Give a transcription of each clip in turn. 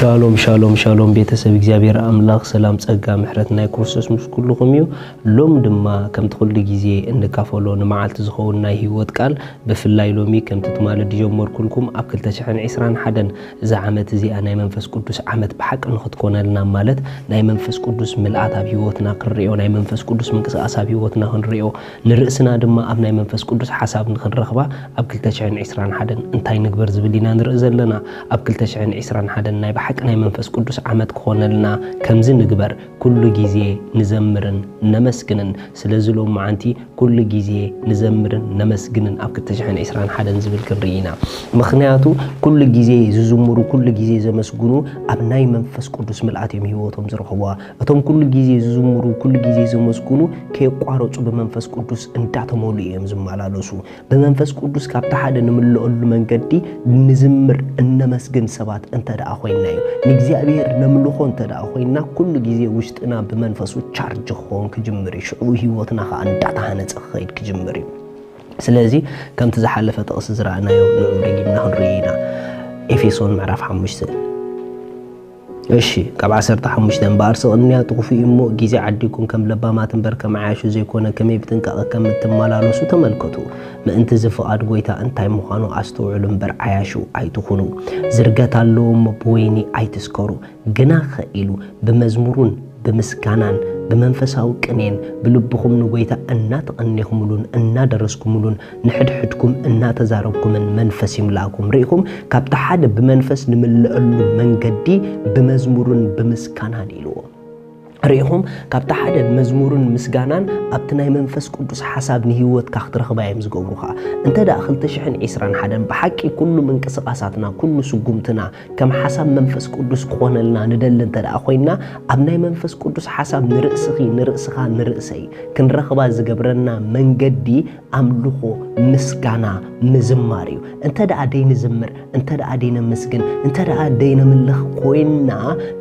ሻሎም ሻሎም ሻሎም ቤተሰብ እግዚኣብሔር ኣምላኽ ሰላም ጸጋ ምሕረት ናይ ክርስቶስ ምስ ኩልኹም እዩ። ሎም ድማ ከምቲ ኩሉ ግዜ እንካፈሎ ንመዓልቲ ዝኸውን ናይ ህይወት ቃል ብፍላይ ሎሚ ከምቲ ትማሊ ዝጀመርኩልኩም ኣብ 2021 እዛ ዓመት እዚኣ ናይ መንፈስ ቅዱስ ዓመት ብሓቂ ንክትኮነልና ማለት ናይ መንፈስ ቅዱስ ምልኣት ኣብ ህይወትና ክንሪኦ ናይ መንፈስ ቅዱስ ምንቅስቃስ ኣብ ህይወትና ክንሪኦ ንርእስና ድማ ኣብ ናይ መንፈስ ቅዱስ ሓሳብ ንኽንረኽባ ኣብ ክልተ ሽሕን ዒስራን ሓደን እንታይ ንግበር ዝብል ኢና ንርኢ ዘለና። ኣብ ክልተ ሽሕን ዒስራን ሓደን ናይ ብሓቂ ናይ መንፈስ ቅዱስ ዓመት ክኾነልና ከምዚ ንግበር ኩሉ ጊዜ ንዘምርን ነመስግንን ስለዚ ሎምዓንቲ ኩሉ ጊዜ ንዘምርን ነመስግንን ኣብ ክልተ ሽሕን ዒስራን ሓደን ዝብል ክንርኢ ኢና ምኽንያቱ ኩሉ ጊዜ ዝዝምሩ ኩሉ ጊዜ ዘመስግኑ ኣብ ናይ መንፈስ ቅዱስ ምልኣት እዮም ህይወቶም ዝረኽቡዋ እቶም ኩሉ ግዜ ዝዝምሩ ኩሉ ግዜ ዘመስግኑ ከየቋረጹ ብመንፈስ ቅዱስ እንዳተመልኡ እዮም ዝመላለሱ። ብመንፈስ ቅዱስ ካብቲ ሓደ ንምለኣሉ መንገዲ ንዝምር እነመስግን ሰባት እንተ ደኣ ኮይንና እዩ። ንእግዚኣብሔር ነምልኾ እንተ ደኣ ኮይንና ኩሉ ግዜ ውሽጥና ብመንፈሱ ቻርጅ ክኸውን ክጅምር እዩ። ሽዑ ህይወትና ከኣ እንዳተሃነጸ ክኸይድ ክጅምር እዩ። ስለዚ ከምቲ ዝሓለፈ ጥቕሲ ዝረኣናዮ ንዑ ደጊምና ክንርእዮ ኢና። ኤፌሶን ምዕራፍ ሓሙሽተ እሺ ካብ ዓሰርተ ሓሙሽተ እምበኣር ስቕ እንያ ጥኹፉ እዩሞ ግዜ ዓዲኩም ከም ለባማት እምበር ከም ዓያሹ ዘይኮነ ከመይ ብጥንቃቐ ከም እትመላለሱ ተመልከቱ ምእንቲ እዚ ፍቓድ ጎይታ እንታይ ምዃኑ ኣስተውዕሉ እምበር ዓያሹ ኣይትኹኑ ዝርገት ኣለዎ እሞ ብወይኒ ኣይትስከሩ ግናኸ ኢሉ ብመዝሙሩን ብምስጋናን ብመንፈሳዊ ቅኔን ብልብኹም ንጎይታ እናተቐኔኹምሉን እናደረስኩምሉን ንሕድሕድኩም እናተዛረብኩምን መንፈስ ይምላእኩም። ርኢኹም፣ ካብቲ ሓደ ብመንፈስ ንምለኣሉ መንገዲ ብመዝሙርን ብምስጋናን ኢልዎ። ርኢኹም፣ ካብቲ ሓደ መዝሙርን ምስጋናን ኣብቲ ናይ መንፈስ ቅዱስ ሓሳብ ንህይወትካ ክትረኽባ እዮም ዝገብሩኻ። እንተድኣ ክልተ ሽሕን ዕስራን ሓደን ብሓቂ ኩሉ ምንቅስቓሳትና፣ ኩሉ ስጉምትና፣ ከም ሓሳብ መንፈስ ቅዱስ ክኾነልና ንደሊ እንተ ደኣ ኮይንና ኣብ ናይ መንፈስ ቅዱስ ሓሳብ ንርእስኺ ንርእስኻ ንርእሰይ ክንረኽባ ዝገብረና መንገዲ ኣምልኾ ምስጋና ምዝማር እዩ እንተ ደኣ ደይንዝምር እንተ ደኣ ደይነመስግን እንተ ደኣ ደይነምልኽ ኮይንና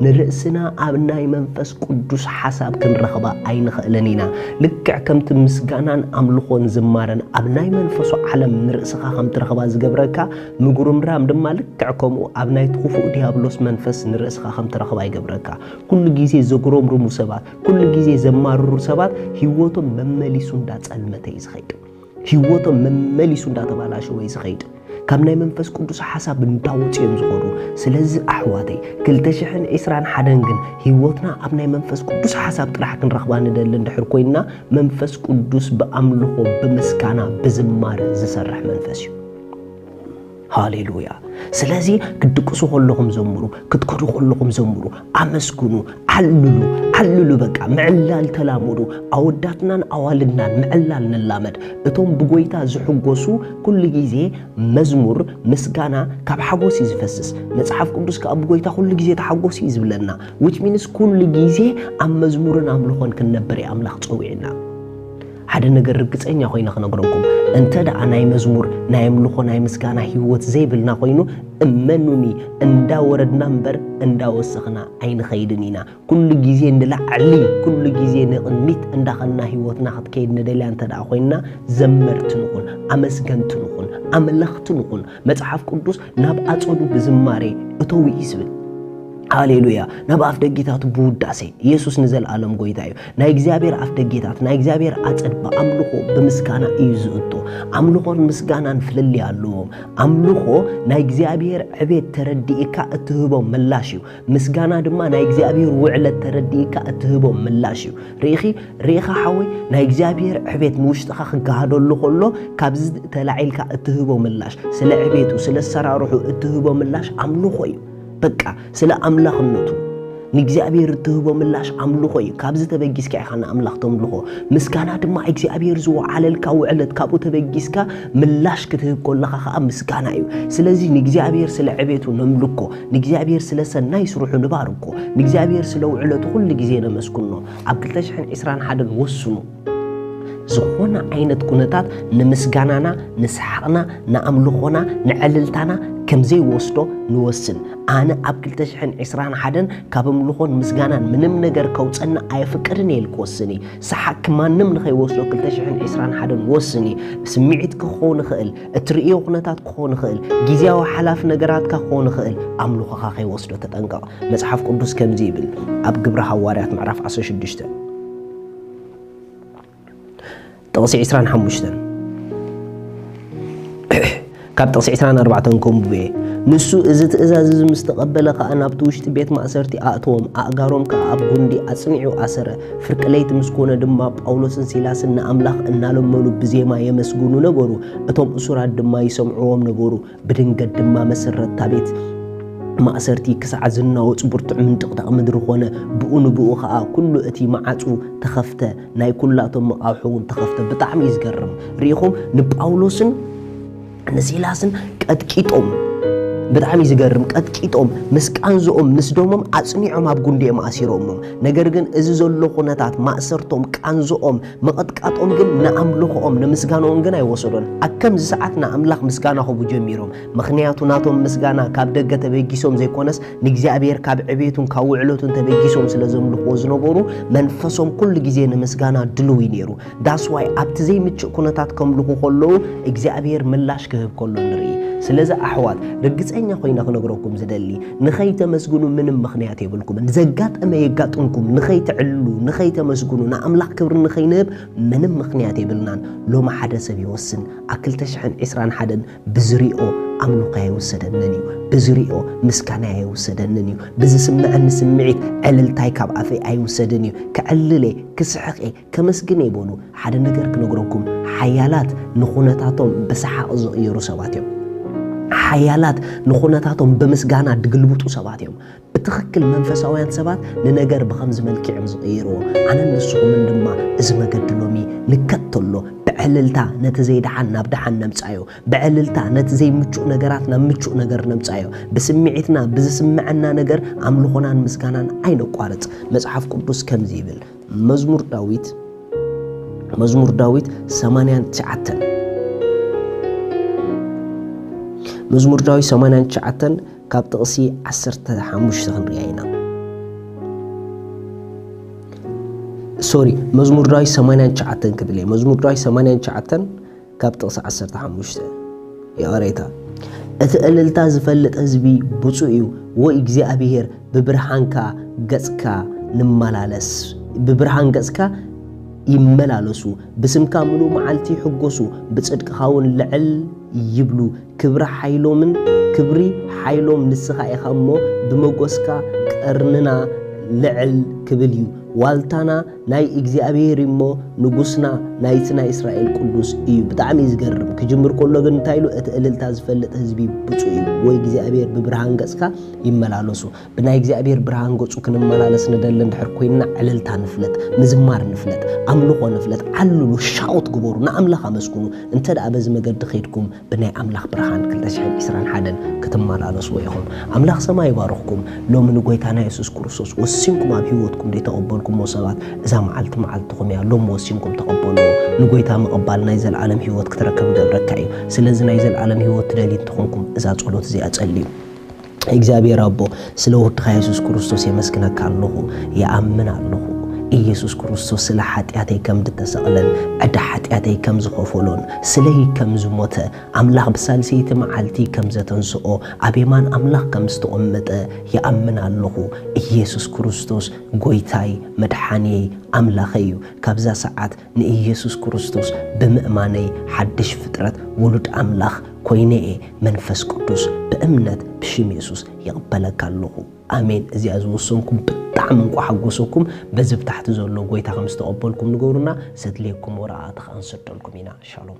ንርእስና ኣብ ናይ መንፈስ ቅዱስ ሓሳብ ክንረኽባ ኣይንኽእልን ኢና ልክዕ ከምቲ ምስጋናን ኣምልኾን ዝማረን ኣብ ናይ መንፈሱ ዓለም ንርእስኻ ከም ትረኽባ ዝገብረካ ምጉርምራም ድማ ልክዕ ከምኡ ኣብ ናይቲ ክፉእ ዲያብሎስ መንፈስ ንርእስኻ ከም ትረኽባ ይገብረካ። ኩሉ ግዜ ዘጉረምርሙ ሰባት፣ ኩሉ ግዜ ዘማርሩ ሰባት ህይወቶም መመሊሱ እንዳጸልመተ እዩ ዝኸይድ። ህይወቶም መመሊሱ እንዳተባላሸወ እዩ ዝኸይድ። ካብ ናይ መንፈስ ቅዱስ ሓሳብ እንዳወጹ እዮም ዝኾዱ። ስለዚ ኣሕዋተይ ክልተ ሽሕን ዕስራን ሓደን ግን ህይወትና ኣብ ናይ መንፈስ ቅዱስ ሓሳብ ጥራሕ ክንረኽባ ንደሊ እንድሕር ኮይንና መንፈስ ቅዱስ ብኣምልኾ፣ ብምስጋና፣ ብዝማረ ዝሰርሕ መንፈስ እዩ። ሃሌሉያ ስለዚ ክትድቅሱ ከለኹም ዘምሩ ክትከዱ ከለኹም ዘምሩ ኣመስግኑ ዓልሉ ዓልሉ በቃ ምዕላል ተላመዱ ኣወዳትናን ኣዋልድናን ምዕላል ንላመድ እቶም ብጎይታ ዝሕጎሱ ኩሉ ግዜ መዝሙር ምስጋና ካብ ሓጎስ እዩ ዝፈስስ መጽሓፍ ቅዱስ ከዓ ብጎይታ ኩሉ ግዜ ተሓጎስ እዩ ዝብለና ዊች ሚንስ ኩሉ ግዜ ኣብ መዝሙርን ኣምልኾን ክንነብር እዩ ኣምላኽ ፀዊዕና ሓደ ነገር ርግጸኛ ኮይነ ክነግረኩም እንተ ደኣ ናይ መዝሙር ናይ ኣምልኾ ናይ ምስጋና ህይወት ዘይብልና ኮይኑ እመኑኒ እንዳ ወረድና እምበር እንዳ ወሰኽና ኣይንኸይድን ኢና ኩሉ ግዜ ንላዕሊ ኩሉ ግዜ ንቕድሚት እንዳኸና ህይወትና ክትከይድ ንደልያ እንተ ደኣ ኮይንና ዘመርቲ ንኹን ኣመስገንቲ ንኹን ኣምለኽቲ ንኹን መጽሓፍ ቅዱስ ናብ ኣጸዱ ብዝማሬ እተው እዩ ዝብል ሃሌሉያ ናብ ኣፍ ደጊታቱ ብውዳሴ ኢየሱስ ንዘለኣለም ጎይታ እዩ ናይ እግዚኣብሔር ኣፍደጌታት ናይ እግዚኣብሔር ኣጸድ ብኣምልኾ ብምስጋና እዩ ዝእቶ። ኣምልኾን ምስጋናን ፍልልይ ኣለዎም። ኣምልኾ ናይ እግዚኣብሔር ዕቤት ተረዲእካ እትህቦ ምላሽ እዩ። ምስጋና ድማ ናይ እግዚኣብሔር ውዕለት ተረዲእካ እትህቦ ምላሽ እዩ። ርኢኺ ርኢኻ ሓወይ ናይ እግዚኣብሔር ዕቤት ንውሽጥኻ ክገሃደሉ ከሎ ካብዚ ተላዒልካ እትህቦ ምላሽ ስለ ዕቤቱ ስለ ኣሰራርሑ እትህቦ ምላሽ ኣምልኾ እዩ። በቃ ስለ ኣምላኽነቱ ንእግዚኣብሔር እትህቦ ምላሽ ኣምልኾ እዩ። ካብዚ ተበጊስካ ኢኻ ንኣምላኽ ተምልኾ። ምስጋና ድማ እግዚኣብሔር ዝወዓለልካ ውዕለት ካብኡ ተበጊስካ ምላሽ ክትህብ ኮለኻ ኸዓ ምስጋና እዩ። ስለዚ ንእግዚኣብሔር ስለ ዕቤቱ ነምልኮ፣ ንእግዚኣብሔር ስለ ሰናይ ስርሑ ንባርኮ፣ ንእግዚኣብሔር ስለ ውዕለቱ ኩሉ ግዜ ነመስግኖ። ኣብ ክልተ ሽሕን ዕስራን ሓደን ወስኑ። ዝኾነ ዓይነት ኩነታት ንምስጋናና ንስሓቕና ንኣምልኾና ንዕልልታና ከም ዘይወስዶ ንወስን ኣነ ኣብ 221 ካብ ኣምልኾን ምስጋናን ምንም ነገር ከውፀና ኣየፍቅድን እየ ኢል ክወስን እዩ ሰሓቅኪ ማንም ንኸይወስዶ 221 ወስን እዩ ስምዒት ክኾን ይኽእል እትርእዮ ኩነታት ክኾን ይኽእል ግዜያዊ ሓላፊ ነገራትካ ክኾን ይኽእል ኣምልኾኻ ከይወስዶ ተጠንቀቕ መጽሓፍ ቅዱስ ከምዚ ይብል ኣብ ግብሪ ሃዋርያት ምዕራፍ 16 ጥቕሲ ዕስራን ሓሙሽተን ካብ ጥቕሲ ዕስራን ኣርባዕተን ከንብቡ እየ ንሱ እዚ ትእዛዝ እዚ ምስ ተቐበለ ከዓ ናብቲ ውሽጢ ቤት ማእሰርቲ ኣእተዎም ኣእጋሮም ከዓ ኣብ ጉንዲ ኣጽኒዑ ኣሰረ ፍርቂ ለይቲ ምስ ኮነ ድማ ጳውሎስን ሲላስን ንኣምላኽ እናለመኑ ብዜማ የመስግኑ ነበሩ እቶም እሱራት ድማ ይሰምዕዎም ነበሩ ብድንገት ድማ መሰረት ታቤት ማእሰርቲ ክሳዕ ዝናወፅ ብርቱዕ ምንጥቕጣቕ ምድሪ ኮነ። ብኡ ንብኡ ኸዓ ኩሉ እቲ መዓፁ ተኸፍተ፣ ናይ ኩላቶም መቓውሖ እውን ተኸፍተ። ብጣዕሚ እዩ ዝገርም። ርኢኹም ንጳውሎስን ንሲላስን ቀጥቂጦም ብጣዕሚ እዩ ዝገርም ቀጥቂጦም ምስ ቃንዝኦም ምስ ደሞም ኣጽኒዖም ኣብ ጉንዲኦም ኣሲሮሞም ነገር ግን እዚ ዘሎ ኩነታት ማእሰርቶም ቃንዝኦም ምቕጥቃጦም ግን ንኣምልኾኦም፣ ንምስጋናኦም ግን ኣይወሰዶን። ኣብ ከምዚ ሰዓት ንኣምላኽ ምስጋና ክህቡ ጀሚሮም። ምኽንያቱ ናቶም ምስጋና ካብ ደገ ተበጊሶም ዘይኮነስ ንእግዚኣብሔር ካብ ዕቤቱን ካብ ውዕለቱን ተበጊሶም ስለ ዘምልኽዎ ዝነበሩ መንፈሶም ኩሉ ግዜ ንምስጋና ድልው እዩ ነይሩ። That's why ኣብቲ ዘይምችእ ኩነታት ከምልኹ ከለዉ እግዚኣብሔር ምላሽ ክህብ ከሎ ንርኢ። ስለዚ ኣሕዋት ርግጸኛ ኮይነ ክነግረኩም ዝደሊ ንኸይተመስግኑ ምንም ምኽንያት የብልኩምን። ዘጋጠመ የጋጥምኩም ንኸይትዕልሉ፣ ንኸይተመስግኑ፣ ንኣምላኽ ክብሪ ንኸይንህብ ምንም ምኽንያት የብልናን። ሎሚ ሓደ ሰብ ይወስን ኣብ ክልተ ሽሕን ዕስራን ሓደን ብዝሪኦ ኣምልኾይ ኣይውሰደንን እዩ፣ ብዝሪኦ ምስጋናይ ኣይውሰደንን እዩ፣ ብዝስመዐኒ ስምዒት ዕልልታይ ካብ ኣፈይ ኣይውሰድን እዩ፣ ከዕልል እየ፣ ክስሕቕ እየ፣ ከመስግን እየ በሉ። ሓደ ነገር ክነግረኩም፣ ሓያላት ንዅነታቶም ብሰሓቕ ዝቕይሩ ሰባት እዮም። ሓያላት ንዅነታቶም ብምስጋና ድግልብጡ ሰባት እዮም። ብትኽክል መንፈሳውያን ሰባት ንነገር ብኸምዚ መልክዕ እዮም ዝቕይርዎ። ኣነን ንስኹምን ድማ እዚ መገዲ ሎሚ ንከተሎ፣ ብዕልልታ ነቲ ዘይደሓን ናብ ደሓን ነምጽኣዮ፣ ብዕልልታ ነቲ ዘይምቹእ ነገራት ናብ ምቹእ ነገር ነምጽኣዮ። ብስምዒትና ብዝስምዐና ነገር ኣምልኾናን ምስጋናን ኣይነቋርጽ። መጽሓፍ ቅዱስ ከምዚ ይብል፣ መዝሙር ዳዊት መዝሙር ዳዊት ሰማንያን ትሽዓተን መዝሙር ዳዊት ሰማንያን ትሽዓተን ካብ ጥቕሲ ዓሰርተ ሓሙሽተ ክንሪኣ ኢና ሶሪ መዝሙር ዳዊት ሰማንያን ትሽዓተን ክብል እየ መዝሙር ዳዊት ሰማንያን ትሽዓተን ካብ ጥቕሲ ዓሰርተ ሓሙሽተ ይቕሬታ እቲ እልልታ ዝፈልጥ ህዝቢ ብፁዕ እዩ ወይ እግዚኣብሔር ብብርሃንካ ገጽካ ንመላለስ ብብርሃን ገጽካ ይመላለሱ ብስምካ ምሉእ መዓልቲ ይሕጎሱ ብጽድቅኻ እውን ልዕል ይብሉ ክብሪ ሓይሎምን ክብሪ ሓይሎም ንስኻ ኢኻ እሞ ብመጎስካ ቀርንና ልዕል ክብል እዩ ዋልታና ናይ እግዚኣብሔር እዩ እሞ ንጉስና ናይቲ ናይ እስራኤል ቅዱስ እዩ ብጣዕሚ እዩ ዝገርም ክጅምር ከሎ ግን እንታይ ኢሉ እቲ እልልታ ዝፈልጥ ህዝቢ ብፁዕ እዩ ወይ እግዚኣብሔር ብብርሃን ገጽካ ይመላለሱ ብናይ እግዚኣብሔር ብርሃን ገጹ ክንመላለስ ንደሊ እንድሕር ኮይንና ዕልልታ ንፍለጥ ምዝማር ንፍለጥ ኣምልኾ ንፍለጥ ዓልሉ ሻውት ግበሩ ንኣምላኽ ኣመስግኑ እንተ ደኣ በዚ መገዲ ከይድኩም ብናይ ኣምላኽ ብርሃን ክልተ ሽሕን ዕስራን ሓደን ክትመላለስዎ ኢኹም። ኣምላኽ ሰማይ ይባርኽኩም። ሎሚ ንጎይታና የሱስ ክርስቶስ ወሲንኩም ኣብ ህይወትኩም ደይተቐበልኩሞ ሰባት እዛ መዓልቲ መዓልትኹም እያ። ሎሚ ወሲንኩም ተቐበልዎ። ንጎይታ ምቕባል ናይ ዘልኣለም ህይወት ክትረክብ ይገብረካ እዩ። ስለዚ ናይ ዘልኣለም ህይወት ትደልዩ እንተኾንኩም እዛ ጸሎት እዚኣ ጸልዩ። እግዚኣብሔር ኣቦ ስለ ወድኻ የሱስ ክርስቶስ የመስግነካ ኣለኹ ይኣምን ኣለኹ ኢየሱስ ክርስቶስ ስለ ሓጢኣተይ ከም ድተሰቕለን ዕዳ ሓጢኣተይ ከም ዝኸፈሎን ስለይ ከም ዝሞተ ኣምላኽ ብሳልሰይቲ መዓልቲ ከም ዘተንስኦ ኣብ የማን ኣምላኽ ከም ዝተቐመጠ ይኣምን ኣለኹ ኢየሱስ ክርስቶስ ጎይታይ መድሓንየይ ኣምላኸይ እዩ ካብዛ ሰዓት ንኢየሱስ ክርስቶስ ብምእማነይ ሓድሽ ፍጥረት ውሉድ ኣምላኽ ኮይነ እየ መንፈስ ቅዱስ ብእምነት ብሽም የሱስ ይቕበለካ ኣለኹ ኣሜን እዚኣ ዝወሰንኩም ብጣዕሚ እንቋ ሓጎሰኩም በዚ ብታሕቲ ዘሎ ጎይታ ከም ዝተቐበልኩም ንገብሩና ሰድልየኩም ወረቓቕቲ ከዓ ንሰደልኩም ኢና ሻሎም